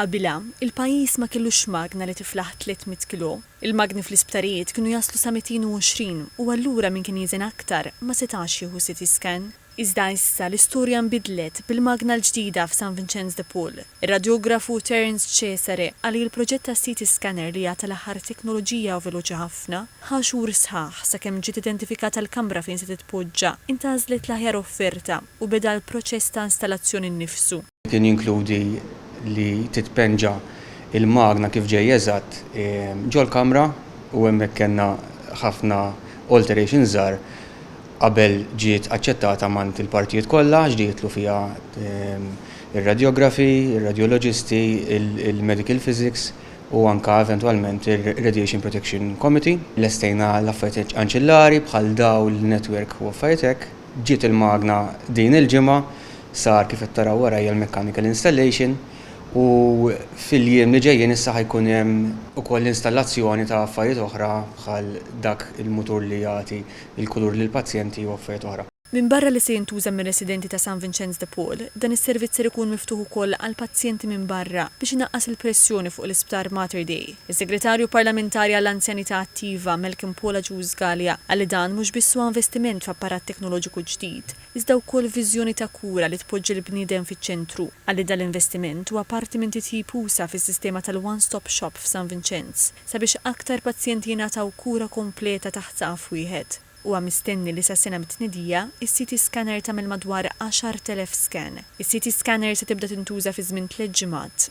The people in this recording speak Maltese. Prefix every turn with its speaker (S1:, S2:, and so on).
S1: Qabilha, il-pajjiż ma kellux magna li tiflaħ 300 kilò. Il-magni fl-isptarijiet kienu jaslu sa 220 u allura min kien jiżen aktar ma setax jieħu CT scan. Iżda issa l-istorja nbidlet bil-magna l-ġdida f'San Vinċenz de Paul. Ir-radjografu Terence Cesare qal li l-proġett tas-CT scanner li għad tal-aħħar teknoloġija u veloċi ħafna, ħa xhur sħaħ sakemm ġiet identifikata l-kamra fejn se titpoġġa, intgħażlet l-aħjar offerta u beda l-proċess ta' installazzjoni nnifsu. Kien jinkludi
S2: li titpenġa l-magna kif ġej eżatt ġol-kamra u hemmhekk kellna ħafna alterations żgħar qabel ġiet aċċettata mgħand il-partijiet kollha għax di jidħlu fiha r-radjografi, ir-radjoloġisti, il-medical physics u anke eventwalment ir-radiation protection committee. Lestejna l-affarijiet anċillari bħal dawl, network u affarijiet hekk. Ġiet il-magna din il-ġimgħa, sar kif qed taraw warajja l-mechanical installation u fil-jiem li ġejjin issa ħa jkun hemm ukoll l-installazzjoni ta' affarijiet oħra bħal dak il-mutur li jagħti l-kulur lill-pazjenti u affarijiet oħra. Minbarra li se jintuża
S1: mir-residenti ta' San Vinċenz de Paul, dan is-servizz ser ikun miftuħ ukoll għall-pazjenti minn barra biex inaqqas il-pressjoni fuq l-Isptar Mater Dei. Is-Segretarju Parlamentari għall-Anzjanità Attiva, Malcolm Paul Agius Galea, qal li dan mhux biss huwa investiment f'apparat teknoloġiku ġdid, iżda wkoll viżjoni ta' kura li tpoġġi l-bniedem fiċ-ċentru. Qal li dal-investiment huwa parti minn titjib usa' fis-sistema tal-One Stop Shop f'San Vinċenz, sabiex aktar pazjenti jingħataw kura kompleta taħt saqaf wieħed. Huwa mistenni li sas-sena mit-tnedija, is-CT scanner tagħmel madwar 10,000 scan. Is-CT scanner se tibda tintuża fi żmien tliet ġimgħat.